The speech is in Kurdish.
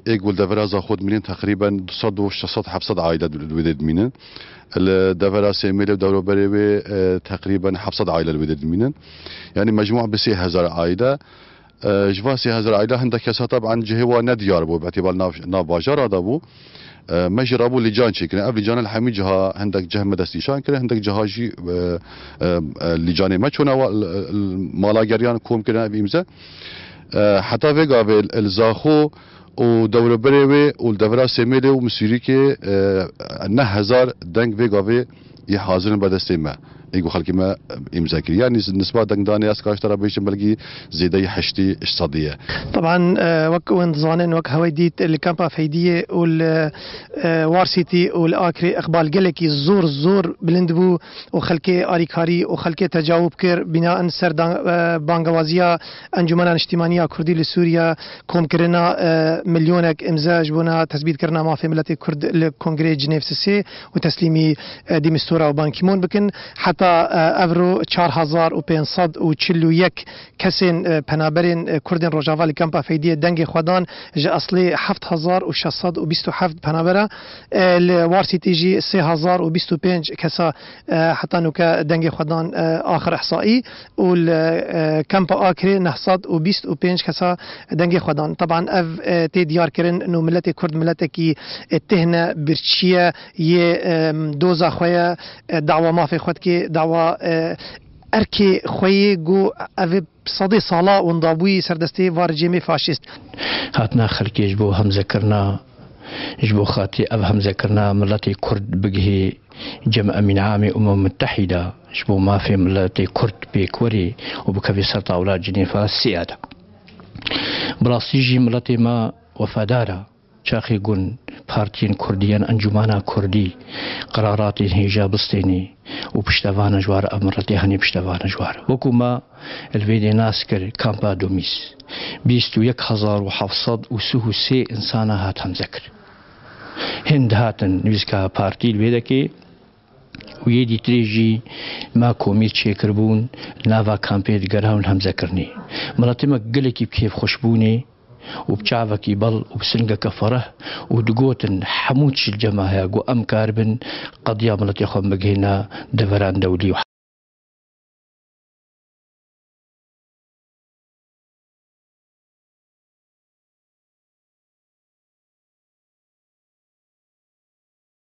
Ê ku li devera Zaxo dimînin teqrîben du sed û şeş sed heft sed aîle li wê dê dimînin. Li devera Sêmêlê û dewroberê wê teqrîben heft sed aîle li wê dê dimînin. Yanî mecmûa bi sê hezar aîle. Ji van sê hezar aîle hinde kesa teb'an cihê wan ne diyar bû, bi îtîbal nav nav bajara de bû. Me jî rabû lîcan çêkirin. Ev lîcanan li hemî ciha hindek cih me destnîşan kirin, hindek ciha jî lîcanê me çûna mala geriyan kom kirin ev îmze. Heta vê gavê li Zaxo û dewroberê wê û li devera Sêmêlê û Misûrîkê neh hezar deng vê gavê yê hazir in berdestê me ê ku xelkê me îmza kiriye. Yanî nisba dengdanê ez kaşta re bihîştim belkî zêdeyî heştî sedî ye. Teban wek hûn dizanin wek hewey dît li kampa Feydîyê û li Warsîtî û li Akirê iqbal gelekî zor zor bilind bû. û xelkê alîkarî û xelkê tecawûb kir, bîna in ser bangewaziya Encûmena Niştîmanî ya Kurdî li Sûrîye, komkirina milyonek îmze ji bona tezbîtkirina mafê miletê Kurd li Kongreyê Cinêv Sisê û teslîmî De Mistura û Ban Ki Moon bikin. Heta ev ro çar hezar û pênc sed û çil û yek kesên penaberên Kurdên Rojava li Kampa Feydiyê dengê xwe dan, ji eslê heft hezar û şeş sed û bîst û heft penabera Li Warsîtî jî sê hezar û bîst û pênc kesa heta nûke dengê xwe dan axir îhsaî û li Kempa Akrê neh sed û bîst û pênc kesa dengê xwe dan. Teban ev tê diyarkirin nû miletê kurd miletekî tihne birçîye yê doza xwe ye, dawa mafê xwe dike, dawa erkê xwe yê ku ev ê. Sedê sala winda bûyî ser destê va rejîmê faşîst. Hatina xelkê ji bo hemzekirina ji bo xatirê ev hemzekirina miletê kurd bigihê Cem Emîn Amê Umem Mutehîda ji bo mafê miletê kurd pêk werê û bikeve ser tawla Cinêfa sêya de. Bi rastî jî miletê me wefadar e. Çaxê Gun, Partiyên Kurdî yên Encûmena Kurdî qeraratên hêja bistênî û piştevana ji war Emiretê hanê piştevana ji war. Wekû me li vê dê nas kir Kampa Domîs bîst û yek hezar û heft sed û sih û sê insana hat hemze kir. Hên dihatin nivîska Partî li vê dekê. û yê dîtirê jî ma komî çêkiribûn li nava kampê di gerhawin hemzekirinê. Miletê me gelekî bi kêfxweş bûnê û bi çavekî bal û bi singeke fereh û digotin hemû çi li cem me heye ku em karibin qediya miletê xwe bigihîne deveran dewlî û